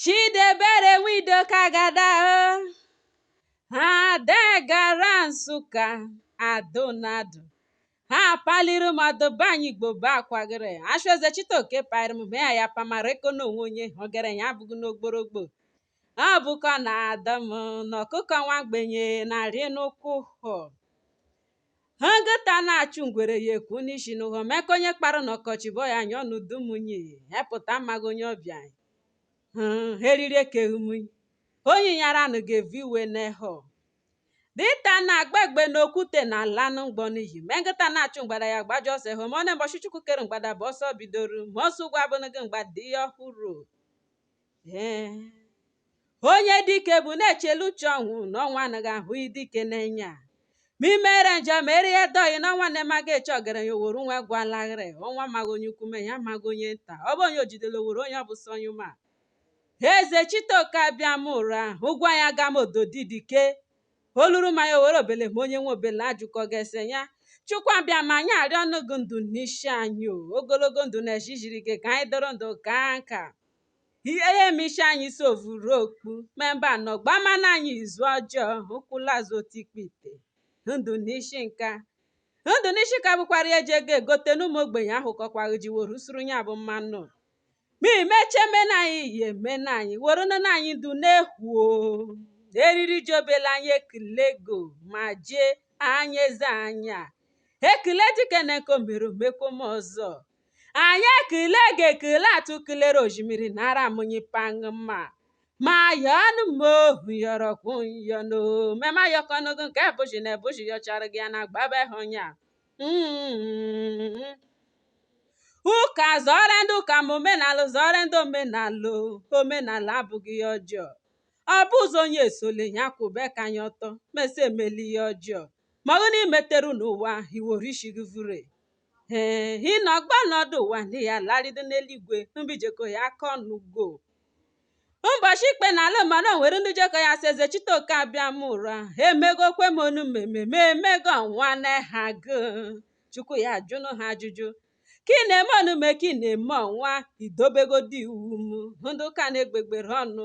Chidebere Nwidoka gada Ada gara Nsụka adonado ha paliri mmadụ be anyị Igbo bụ akwagịrị achụ Ezechitoke paịrị m ya ya pamara eko na onwe onye ogere ya abụghị n'ogborogbo ọ bụkọ na ada m na ọkụkọ nwa ogbenye na-arị n'ụkwụ hụ Nkịta na-achụ ngwere ya ekwu n'isi n'ụghọ meka onye kpara n'ọkọchị bụ ya nyụọ n'udu munyi hepụta amaghị onye ọbịa ha eriri ekeghị munyi onye nyara anụ ga-evu iwe n'ehọ dinta na-agba egbe n'okwute na-ala nụ mgbọ n'iyi me nkịta na-achụ mgbada ya gbajọ ọsọ ehụ ma ọ na mbọchị chukwu kere mgbada bụ ọsọ bidoro ma ọsọ ugwu abụnụghị mgbada ihe ọhụrụ ee onye dike bụ na-echelu uche ọnwụ na ọnwụ anaghị ahụ dike n'enya ma i mere njọ ma erie dọghị na ọnwụ amaghị eche ọgaranya o woro nwa gwalaghịrị ọnwụ maghị onye ukwu me ya amaghị onye nta ọ bụ onye o jidere o woro onye ọ bụ sọ onye ma Ezechitoke Abịamụra ụgwọ ya ga m ododi dike oluru ma ya o woro obele ma onye nwe obele ajụkọ ga-ese ya Chukwu Abịama anyị arịọ nụ gị ndụ n'isi anyị o ogologo ndụ na ejijiri gị ka anyị dọrọ ndụ kaa nka Ihe m ishi anyị sovuru okpu me mbe nọgba mana anyị izu ọjọọ ụkwụlazụ otu ikpe ite ndụ n'isi nka ndụ n'isi ka bụkwara ihe eji ego egote na ụmụ ogbenye ahụkọkwaghị ji were suru ya bụ mmanụ ma imeche mena anyị ihe emena anyị were nene anyị ndụ na-ekwuo eriri ji obele anyị ekelego ma jee anyị eze anya ekele dike na nke o mere o mekwo ọzọ anyị ekele gị ekele atụ kelere osimiri nara munyi pangụ mma ma ya ọnụ m ohu yọrọ kwụ yọ n'ome ma yọkọ n'ogo nke bụchi na ebuchi yọchara gị ya na gbaba hụ ya Mm. ụka zọrọ ndị ụka ma omenala zọrọ ndị omenala o. omenala abụghị ihe ọjọọ ọ bụ ụzọ onye esole ya kwụbe aka ya ọtọ mesa emeli ihe ọjọọ ma ọ bụ na i meteru n'ụwa i were isi gị vure Ee, ị nọkwa n'ọdụ ụwa ndị ya larịdo n'eluigwe mbe i jeko ya aka ọnụ go mbọchị ikpe na ala mara nwere ndị jekọ ya sị Ezechitoke Abịamụra emegokwe m onume me m emego ọnwa n'aha gụ chukwu ya ajụ nụ ha ajụjụ ka ị na-eme onume ka ị na-eme ọnwa i dobegodi iwu m ndụ ka n'egbegbere ọnụ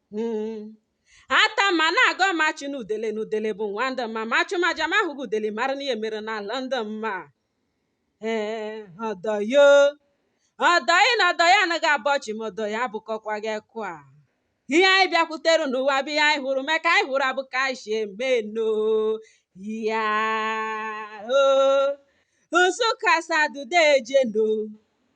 Hmm. atama na-agọ mma achụna udele na udele bụ nwa ndị mma ma achụma aja ma ahụghị udele mara na ihe mere n'ala ndị mma ee ọdọyo ọdọyị na ọdọyị anaghị abọ chi ma ọdọyị abụkọkwa gị kwa ihe anyị bịakwutere n'ụwa bụ ihe anyị hụrụ mee ka anyị hụrụ abụ ka anyị si eme nụ ya o Nsụka Asadu deje nụ